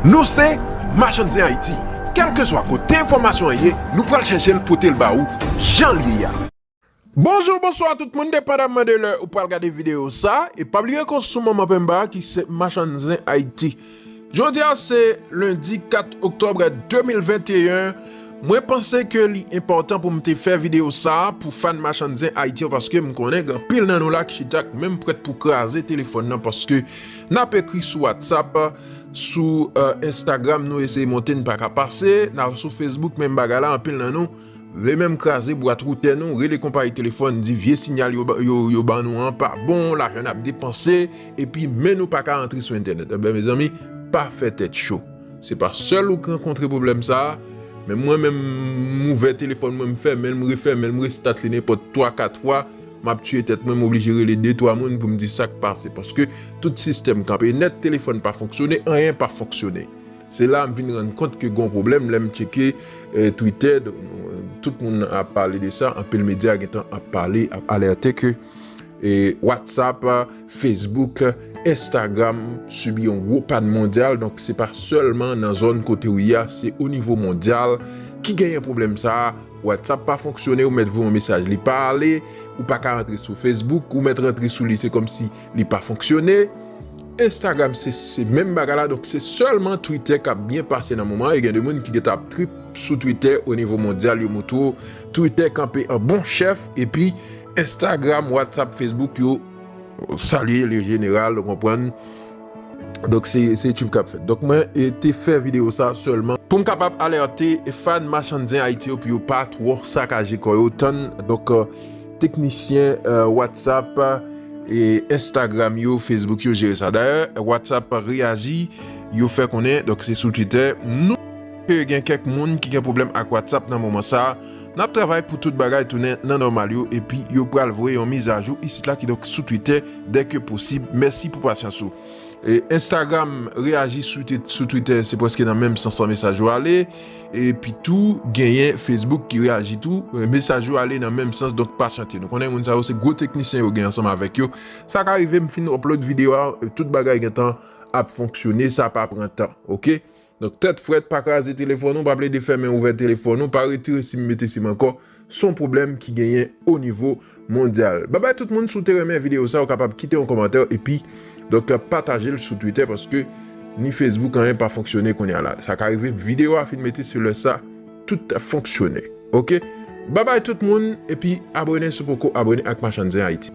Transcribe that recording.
Nou se Machann Zen Ayiti, kèlkeswa kote enfòmasyon an ye, nou pral chèche l pote l ba ou jan l ye a. Bonjou, bonswa tout moun depandamman de lè ou pral gade videyo sa e pa bliye kont sou manman penba a ki se Machann Zen Ayiti. Jodi a se lendi 4 oktòb 2021. Mwen panse ke li enpòtan pou m te fè videyo sa a pou fan Machann Zen Ayiti yo paske m konnen gen anpil nan nou la ki chita k menm prèt pou kraze telefòn nan paske n ap ekri sou Whatsapp, sou Instagram nou eseye monte n pa ka pase, n al sou Facebook menm bagay la anpil nan nou vle menm kraze bwat woutè nou, rele konpayi telefòn di vye sinyal yo ban nou an pa bon, lajan n ap depanse epi men nou pa ka antre sou entènèt. Enben mezanmi pa fè tèt cho. Se pa sèl ou k rankontre pwoblèm sa, men mwen menm m ouvè telefòn mwen m fèmen l m refèmen l m restat li nenpòt 3 4 fwa map tiye tèt mwen m oblije rele 2 3 moun pou m di sak pase paske tout sistèm kanpe nèt telefòn pa fonksyone anyen pa fonksyone se la m vin rann kont ke gon pwoblèm lè m tcheke twitè tout moun ap pale de sa anpil medya gentan ap pale ap alète ke whatsapp. Facebook, Instagram sibi yon gwo pàn mondyal donk se pa sèlman nan zòn kote ou ye a se o nivo mondyal ki genyen pwoblèm sa a, WhatsApp pa fonksyone ou mèt voye yon mesaj li pa ale, ou pa ka rantre sou Facebook ou mèt rantre sou li se kòmsi li pa fonksyone, Instagram se menm bagay la donk se sèlman Twitter k ap byen pase nan moman an e gen de moun ki gentan ap trip sou Twitter o nivo mondyal yo moutre w Twitter kanpe an bon chèf epi Instagram, WhatsApp, Facebook yo. Salye le jeneral ou konprann. Donk se tchif kap fèt. Donk mwen te fè video sa sèlman. Pou m kapab alerte fan machann zen Ayiti yo pou yo pa twò sakaje kò yo tann. Donk teknisyen whatsapp, instagram yo, facebook yo jere sa. Dayè whatsapp reyaji yo fè konnen donk se sou twitter. Ke gen kèk moun ki gen pwoblèm ak whatsapp nan moman sa. N ap travay pou tout bagay tounen nan nòmal yo epi yo pral voye yon mizajou isit la kidonk sou twitè dè ke posib. Mèsi pou pasyans ou. Instagram reyaji sou twitè se prèske nan menm sans lan mesaj yo ale epi tou genyen Facebook ki reyaji tou mesaj yo ale nan menm sans donk pasyante nou konnen moun sa yo se gwo teknisyen yo gen ansanm avèk yo sa ka rive m fin upload videyo a tout bagay gentan ap fonksyone sa pa pran tan ok. Donk tèt frèt pa kraze telefòn ou, pa plede fèmen ouvè telefòn ou, pa retire sim mete sim ankò, son pwoblèm ki genyen o nivo mondyal. Babay tout moun si w te renmen videyo sa ou kapab kite yon kòmantè epi donk pataje l sou twitè paske ni fesbouk anyen pa fonksyone kounya la sa ka rive videyo a fin mete se lè sa tout ap fonksyone ok babay tout moun epi abone si w poko abone ak machann zen ayiti.